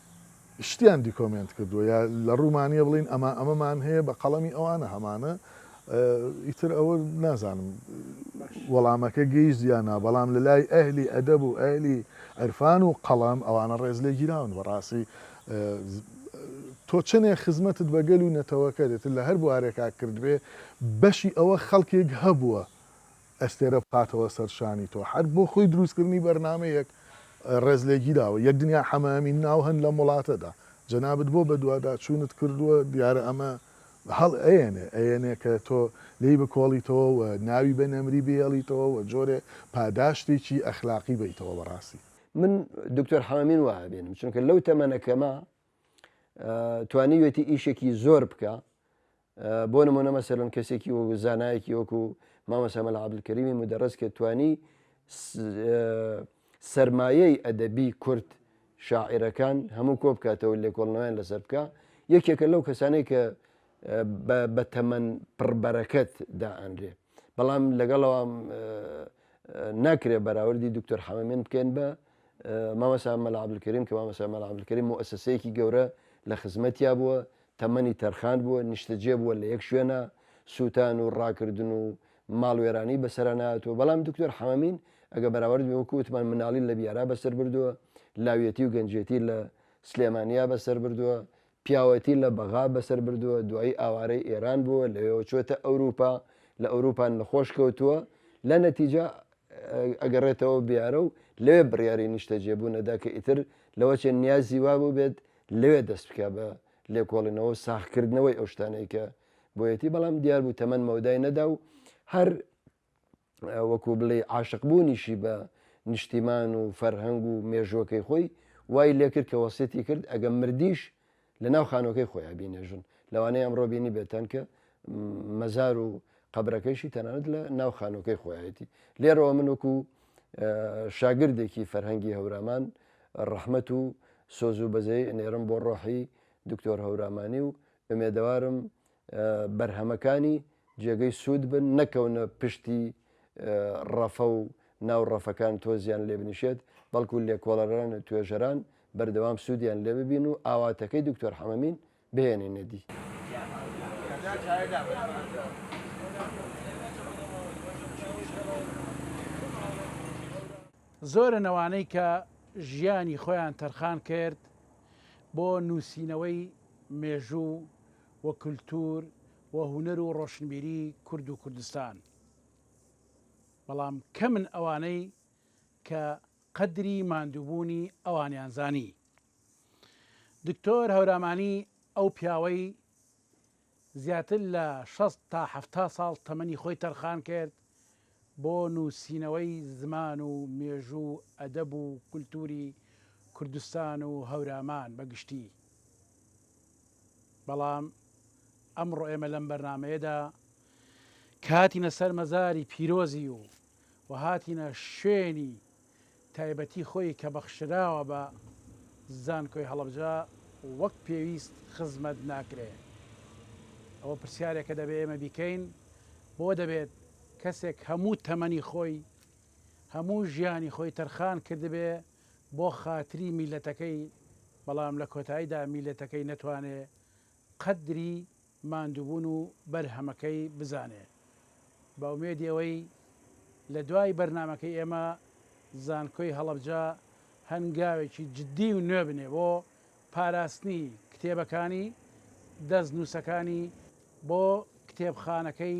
شتیان دیکۆمێنت کردووە یا لە ڕوومانە بڵین ئەمە ئەمەمان هەیە بە قەڵەمی ئەوانە هەمانە ئیتر ئەوە نازانم وەڵامەکە گەیشت یا نا بەڵام لە لای ئەهلی ئەدەب و ئەهلی عرفان و قەڵەم ئەوانە ڕێز لێ گیراون بەڕاستی تۆ چنێ خزمەتت بەگەل و نەتەوەکە دێت لە هەر بوارێکا کردبێ بەشی ئەوە خەڵکێک هەبووە ئەستێرە بخاتەوە سەر شانی تۆ. هەر بۆ خۆی دروستکردنی بەرنامەیەک ڕێز لێگیراوە. یەک دنیا حەمە ئەمین ناو هەن لەم وڵاتەدا. جەنابت بۆ بەدواداچوونت کردووە، دیارە ئەمە هەڵ ئەیەنێ، ئەیەنێ کە تۆ لێی بکۆڵیتەوە و ناوی بە نەمری بهێڵیتەوە و جۆرێ پاداشتێکی ئەخلاقی بەیتەوە بە ڕاستی. من دکتۆر حەمە ئەمین وا ئەبینم، چونکە لەو تەمەنە کەمە توانیوێتی ئیشێکی زۆر بکا بۆ نمونە مەسەلەن کەسێکی وەکو زانایەکی وەکو مامۆستا مەلا عەبدولکەریمی مودەڕەس کە توانی سەرمایەی ئەدەبی کورد شاعیرەکان هەموو کۆ بکاتەوە و لێکۆڵنەوەیان لەسەر بکە یەکێکە لەو کەسانەی کە بە تەمەن پڕبەرەکەت دائەنرێ بەڵام لەگەڵەوە ناکرێ بەراوردی دکتۆر حەمەمێن بکەین بە مامەسا مەلا عبدکریم کە مامەسا مەلا عبدکریم و ئەسەسەیەکی گەورە لە خزمەتیا بووە تەمەنی تەرخان بووە، نیشتەجێ بووە لە یەک شوێنا، سووتان و ڕاکردن و ماڵوێرانی بەسەرا نەهاتووە، بەڵام دکتۆر حەمەمین ئەگەر بەراورد بێ وەکو وتمان مناڵی لە بیارا بەسەر بردووە، لاویەتی و گەنجێتی لە سلێمانیا بەسەر بردووە، پیاوەتی لە بەغا بەسەر بردووە، دوایی ئاوارەی ئێران بووە، لەوێوە چۆتە ئەوروپا، لە ئەوروپا نەخۆش کەوتووە، لە نەتیجە ئەگەڕێتەوە بیارە و لەوێ بڕیاری نیشتەجێ بوونە دا کە ئیتر لەوە چێ نیازی وا بووبێت لەوێ دەست بکا بە لێکۆڵینەوە و ساغکردنەوەی ئەو شتانەی کە بۆیەتی بەڵام دیار بوو تەمەن مەودای نەدا و هەر وەکو بڵێ عاشقبوونیشی بە نیشتیمان و فەرهەنگ و مێژوەکەی خۆی وای لێکرد کە وەسیەتی کرد ئەگەم مردیش لە ناو خانۆکەی خۆیان بینێژن لەوانەیە ئەمڕۆ بینی بێتەن کە مەزار و قەبرەکەیشی تەنانەت لە ناو خانووەکەی خۆیەتی لێرەوە من وەکو شاگردێکی فەرهەنگی هەورامان ڕەحمەت و سۆز و بەزەی ئەنێرم بۆ ڕۆحی دکتۆر هەورامانی و ئەمێدەوارم بەرهەمەکانی جێگەی سوود بن نەکەونە پشتی ڕەفە و ناو ڕەفەکان تۆزیان لێ بنیشێت بەڵکو لێکۆڵەران و توێژەران بەردەوام سوودیان لێ ببین و ئاواتەکەی دکتۆر حەمەمین بهێنێنە دی. زۆرن ئەوانەی کە ژیانی خۆیان تەرخان کرد بۆ نووسینەوەی مێژوو و کولتوور و هونەر و ڕۆشنبیری کورد و کوردستان، بەڵام کەمن ئەوانەی کە قەدری ماندووبوونی ئەوانیان زانی. دکتۆر هەورامانی ئەو پیاوەی زیاتر لە شەست تا حەفتا ساڵ تەمەنی خۆی تەرخان کرد بۆ نووسینەوەی زمان و مێژوو و ئەدەب و کولتووری کوردستان و هەورامان بە گشتی بەڵام ئەمڕۆ ئێمە لەم بەرنمەیەدا کاتینە سەر مەزاری پیرۆزی و و هاتینە شوێنی تایبەتی خۆی کە بەخشراوە بە زانکۆی هەڵەبجە وەک پێویست خزمەت ناکرێ ئەوە پرسیارێکە دەبێ ئێمە بیکەین بۆ دەبێت کەسێک هەموو تەمەنی خۆی هەموو ژیانی خۆی تەرخان کردبێ بۆ خاتری میلەتەکەی بەڵام لە کۆتاییدا میلەتەکەی نەتوانێ قەدری ماندووبوون و بەرهەمەکەی بزانێ بە ئومێدی ئەوەی لە دوای بەرنامەکەی ئێمە زانکۆی هەڵەبجە هەنگاوێکی جددی و نوێ بنێ بۆ پاراستنی کتێبەکانی دەست نووسەکانی بۆ کتێبخانەکەی